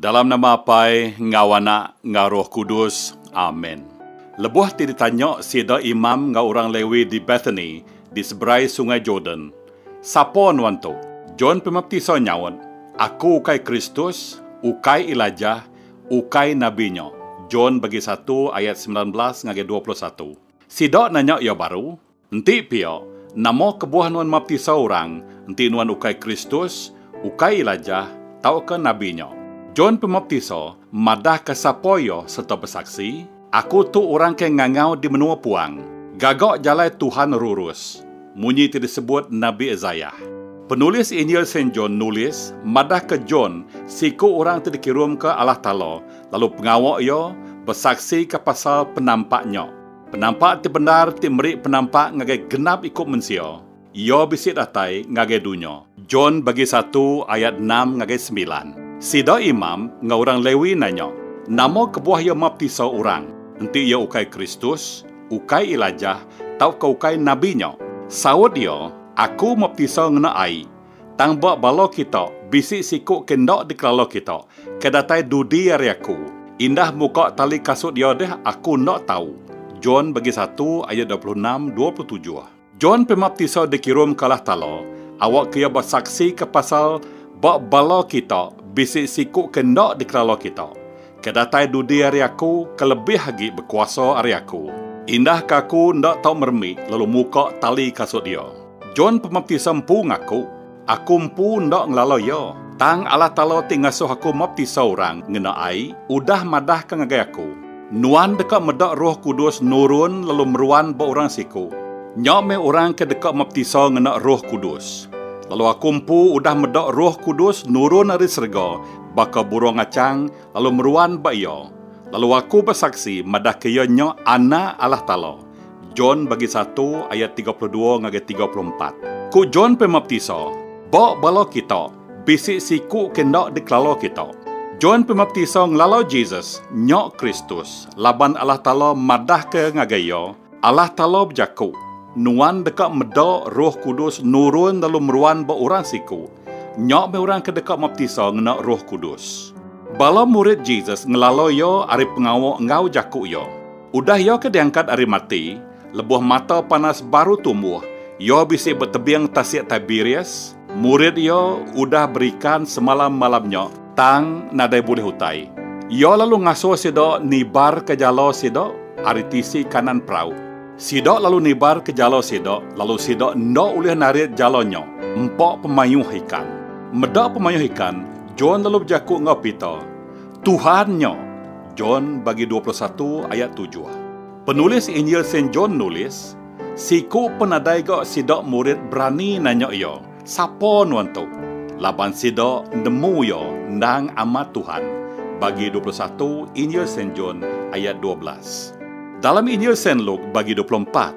Dalam nama Apai enggau Anak enggau Roh Kudus. Amen. Lebuh ti ditanya sida imam enggau orang Lewi di Bethany di seberai Sungai Jordan, Sapa nuan tu? John Pemaptisa nyaut, Aku ukai Kristus, ukai Elijah, ukai nabi nya. John bagi satu ayat semilan belas ngagai dua puluh satu. Sida nanya iya baru, Enti pia, nama kebuah nuan maptisa orang enti nuan ukai Kristus, ukai Elijah, tauka nabi nya? John Pemaptisa madahka sapa iya sereta besaksi, Aku tu orang ke ngangau di menua puang, Gaga jalai Tuhan rurus, munyi ti disebut nabi Isaiah. Penulis Injil Saint John nulis madahka John siku orang ti dikirumka Allah Taala lalu pengawa iya besaksika pasal penampak nya. Penampak ti bendar ti meri penampak ngagai genap iku mensia, iya bisi datai ngagai dunya. John bagi satu ayat enam ngagai semilan. Sida imam enggau orang Lewi nanya, Nama kebuah iya maptisa orang? Enti iya ukai Kristus, ukai Elijah, tauka ukai nabi nya? Saut iya, Aku maptisa ngena ai, Tang ba bala kita, bisi siku ke enda dikelala kita, ke datai dudi ari aku. Indah muka tali kasut iya deh, aku enda tau. John bagi satu ayat dua puluh enam, dua puluh tujuh. John Pemaptisa dikirum ke alah tala, awakka iya besaksika pasal ba bala kita, bisi siku ke enda dikelala kita, ke datai dudi ari aku, ke lebih agi bekuasa ari aku. Indah ke aku enda tau meremik lalu muka tali kasut iya. John Pemaptisa empu ngaku, Aku empu enda ngelala iya, tang Allah Taala ti ngasuh aku maptisa orang ngena ai udah madahka ngagai aku, Nuan deka meda Roh Kudus nurun lalu meruan ba orang siku. Nya meh orang ke deka maptisa ngena Roh Kudus. Lalu aku empu udah meda Roh Kudus nurun ari serega baka burung achang lalu meruan ba iya, lalu aku besaksi madahka iya nya Anak Allah Taala. John bagi satu ayat tiga puluh dua ngagai tiga puluh empat. Ku John Pemaptisa, Ba bala kita, bisi siku ke enda dikelala kita. John Pemaptisa ngelala Jesus nya Kristus laban Allah Taala madahka ngagai iya, Allah Taala bejaku, Nuan deka meda Roh Kudus nurun lalu meruan ba orang siku. Nya meh orang ke deka maptisa ngena Roh Kudus. Bala murid Jesus ngelala iya ari pengawa enggau jaku iya. Udah iya ke diangkat ari mati, lebuh mata panas baru tumbuh, iya bisi betebing Tasik Tiberias, murid iya udah berikan semalam malam nya, tang nadai bulih utai. Iya lalu ngasuh sida nibarka jala sida ari tisi kanan perau. Sida lalu nibarka jala sida, lalu sida enda ulih narit jala nya, empa pemayuh ikan. Meda pemayuh ikan, John lalu bejaku enggau Peter, Tuhan nya. John bagi dua puluh satu ayat tujuh. Penulis Injil Saint John nulis, Siku penadai ga sida murid berani nanya iya, Sapa nuan tu? Laban sida nemu iya endang amat Tuhan, bagi dua puluh satu Injil Saint John ayat dua belas. Dalam Injil Saint Luke bagi dua puluh empat,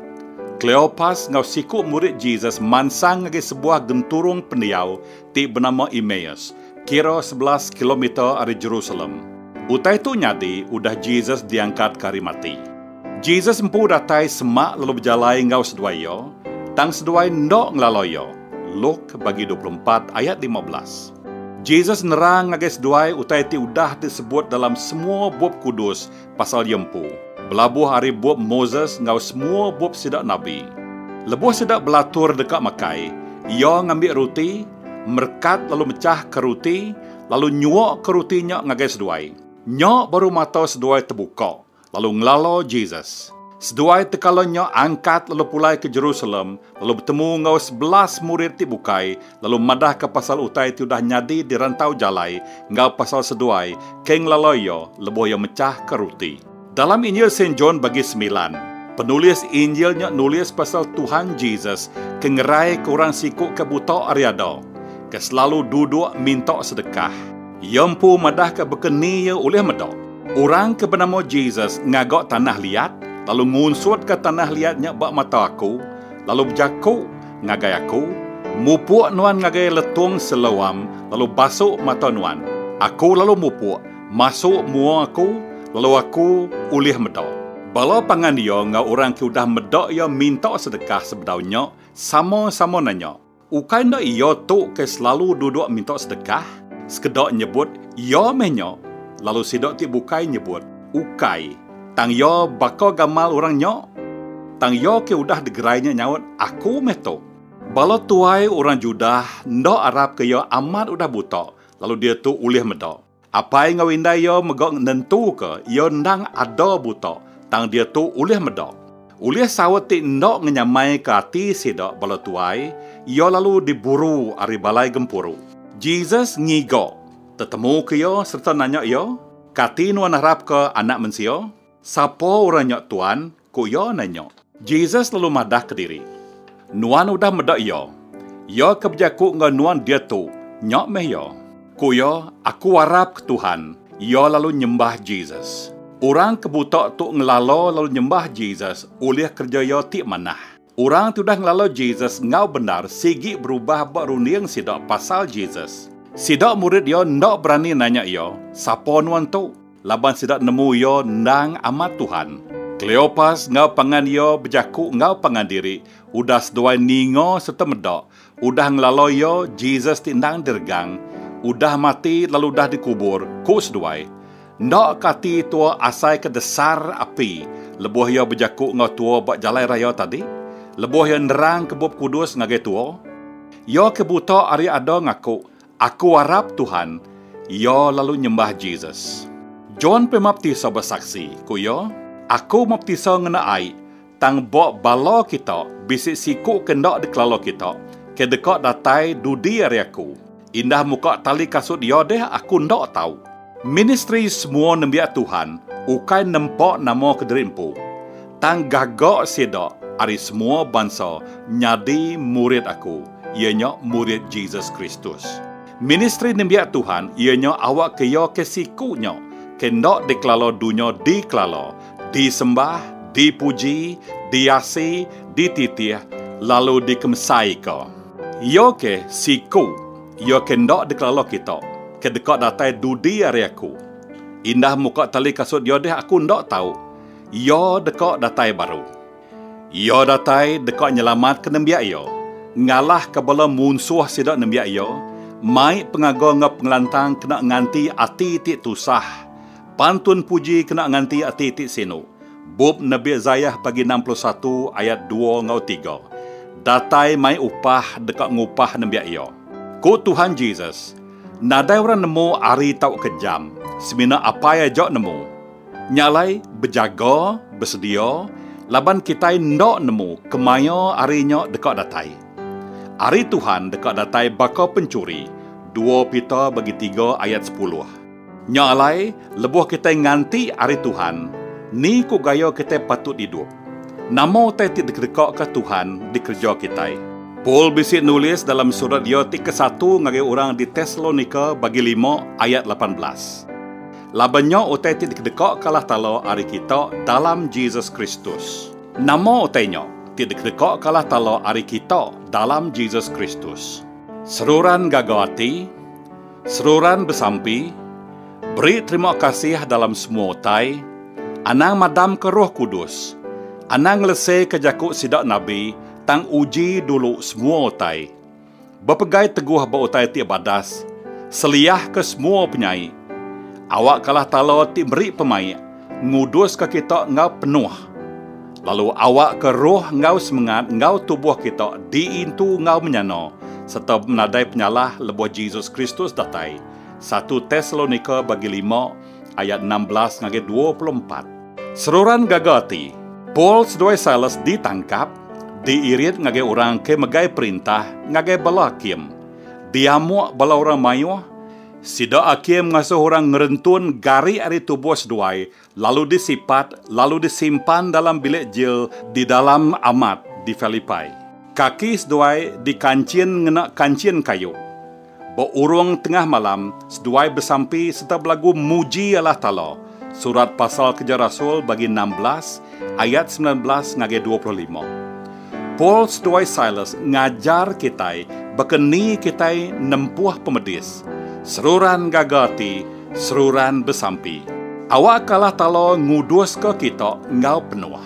Kleopas enggau siku murid Jesus mansang ngagai sebuah genturung pendiau ti benama Emmaus, kira sebelas kilometer ari Jerusalem. Utai tu nyadi udah Jesus diangkatka ari mati. Jesus empu datai semak lalu bejalai enggau seduai iya, tang seduai enda ngelala iya. Luk, bagi dua puluh empat ayat lima belas. Jesus nerang ngagai seduai utai ti udah disebut dalam semua Bup Kudus Pasal iya empu, belabuh ari bup Moses enggau semua bup sida nabi, lebuh sida belatur deka makai, iya ngambi ruti, merekat lalu mechahka ruti, lalu nyuaka ruti nya ngagai seduai. Nya baru mata seduai tebuka, lalu ngelala Jesus. Seduai tekala nya angkat lalu pulai ke Jerusalem lalu betemu enggau sebelas murid ti bukai lalu madahka pasal utai ti udah nyadi di rantau jalai enggau pasal seduai ke ngelalui iya lebuh iya mechahka ruti. Dalam Injil Saint John bagi semilan, penulis Injil nya nulis pasal Tuhan Jesus ke ngeraika orang siku ke buta ari ada, ke selalu duduk minta sedekah. Iya empu madahka baka ni iya ulih meda. Orang ke benama Jesus ngaga tanah liat lalu ngunsutka tanah liat nya ba mata aku, lalu bejaku, Ngagai aku, mupuk nuan ngagai letung seloam lalu basuk mata nuan. Aku lalu mupuk, masuk mua aku, lalu aku ulih meda. Bala pangan iya enggau orang ke udah meda iya minta sedekah sebedau nya sama-sama nanya, Ukai enda iya tu ke selalu duduk minta sedekah? Sekeda nyebut, Iya meh nya, lalu sida ti bukai nyebut, Ukai. Tang iya baka gamal orang nya? Tang iya ke udah degerai nya nyaut, Aku meh tu. Bala tuai orang Judah enda arapka iya amat udah buta, lalu diatu ulih meda. Apai enggau indai iya mega nentuka iya endang ada buta, tang diatu ulih meda. Ulih saut ti enda ngenyamaika ati sida bala tuai, iya lalu diburu ari balai gempuru. Jesus ngiga, tetemuka iya sereta nanya iya. Kati nuan harapka Anak Mensia? Sapa orang nya Tuan? ku iya nanya. Jesus lalu madah kediri, Nuan udah meda iya. Iya ke bejaku enggau nuan diatu, nya meh iya. Ku iya, Aku arapka Tuhan. Iya lalu nyembah Jesus. Orang ke buta tu ngelala lalu nyembah Jesus ulih kereja iya ti manah. Orang tudah ngelalau Jesus enggau bendar sigi berubah ba runding sida pasal Jesus. Sida murid iya enda berani nanya iya, Sapa nuan tu? laban sida nemu iya endang amat Tuhan. Kleopas enggau pangan iya bejaku enggau pangan diri udah seduai ninga sereta meda Udah ngelaloi iya, Jesus ti endang diregang, udah mati lalu udah dikubur, ku seduai. Enda ke ati tua asai ke desar api lebuh iya bejaku enggau tua ba jalai raya tadi, lebuh iya nerangka Bup Kudus ngagai tua. Iya ke buta ari ada ngaku, Aku arap Tuhan, iya lalu nyembah Jesus. John Pemaptisa besaksi, ku iya, Aku maptisa ngena ai, tang ba bala kita bisi siku ke enda dikelala kita, ke deka datai dudi ari aku. Indah muka tali kasut iya deh aku enda tau. Ministri Semua Nembiak Tuhan ukai nempa nama kediri empu, tang gaga sida ari semua bansa nyadi murid aku, iya nya murid Jesus Kristus. Ministri nembiak Tuhan iya nya awakka iya ke siku nya ke enda dikelala dunya dikelala, disembah, dipuji, diasi, dititih, lalu dikemesaika. Iya ke siku. Iya ke enda dikelala kita, ke deka datai dudi ari aku. Indah muka tali kasut iya deh aku enda tau. Iya deka datai baru. Iya datai deka nyelamatka nembiak iya, ngalahka bala munsuh sida nembiak iya, mai pengaga enggau pengelantang kena nganti ati ti tusah, pantun puji kena nganti ati ti sinu, Bup Nabi Isaiah pagi enam puluh satu ayat dua enggau tiga, Datai mai upah deka ngupah nembiak iya. Ku Tuhan Jesus, Nadai orang nemu hari tauka jam, semina Apai aja nemu. Nya alai, bejaga, besedia, laban kitai enda nemu kemaya hari nya deka datai. Hari Tuhan deka datai baka penchuri, dua Peter bagi tiga ayat sepuluh. Nya alai, lebuh kitai nganti ari Tuhan, ni ku gaya kitai patut idup? Nama utai ti dikedekaka Tuhan dikereja kitai? Paul bisi nulis dalam surat iya ti kesatu ngagai orang di Tesalonika bagi lima ayat lapan belas, Laban nya utai ti dikedekaka Allah Taala ari kita dalam Jesus Kristus. Nama utai nya ti dikedekaka Allah Taala ari kita dalam Jesus Kristus? Seruran gaga ati. Seruran besampi, Beri terima kasih dalam semua utai, anang madamka Roh Kudus, anang ngeleseka jaku sida nabi tang uji dulu semua utai. Bepegai teguh ba utai ti badas, seliahka semua penyai. Awakkalah tala ti meri pemaik nguduska kita enggau penuh, lalu awakka roh enggau semengat enggau tubuh kita diintu enggau menyana sereta benadai penyalah lebuh Jesus Kristus datai, satu Tesalonika bagi lima ayat enam belas ngagai dua puluh empat. Seruran gaga ati, Paul seduai Silas ditangkap, diirit ngagai orang ke megai perintah ngagai bala hakim, diamuk bala orang mayuh, Sida akhir mengasuh orang ngerentun gari ari tubuh seduai lalu disipat lalu disimpan dalam bilik jil di dalam amat di Philippi. Kaki seduai dikanchin ngena kanchin kayu. Ba urung tengah malam, seduai besampi sereta belagu muji Allah Taala, Surat Pasal Keja Rasul bagi enam belas, ayat semilan belas ngagai dua puluh lima. Paul seduai Silas ngajar kitai baka ni kitai nempuh pemedis, seruran ngaga ati, seruran besampi. Awakka Allah Taala nguduska kita enggau penuh.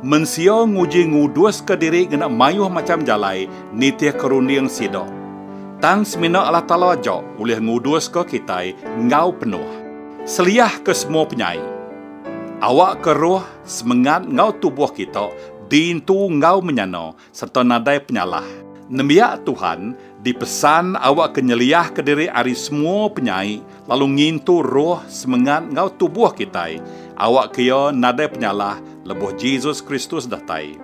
Mensia nguji nguduska diri ngena mayuh macham jalai nitihka runding sida. Tang semina Allah Taala aja ulih nguduska kitai enggau penuh. Seliahka semua penyai. Awakka roh. semengat enggau tubuh kita diintu enggau menyana sereta nadai penyalah. Nembiak Tuhan dipesan awakka nyeliahka diri ari semua penyai lalu ngintu roh, semengat enggau tubuh kitai awakka iya nadai penyalah lebuh Jesus Kristus datai.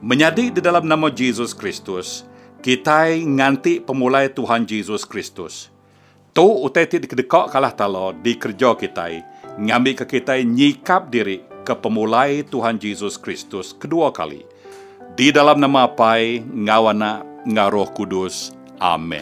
Menyadi di dalam nama Jesus Kristus, kitai nganti pemulai Tuhan Jesus Kristus. Tu utai ti dikedeka Kalah Tala dikereja kitai ngambika kitai nyikap diri ke pemulai Tuhan Jesus Kristus kedua kali. Di dalam nama Apai enggau Anak enggau Roh Kudus. Amen.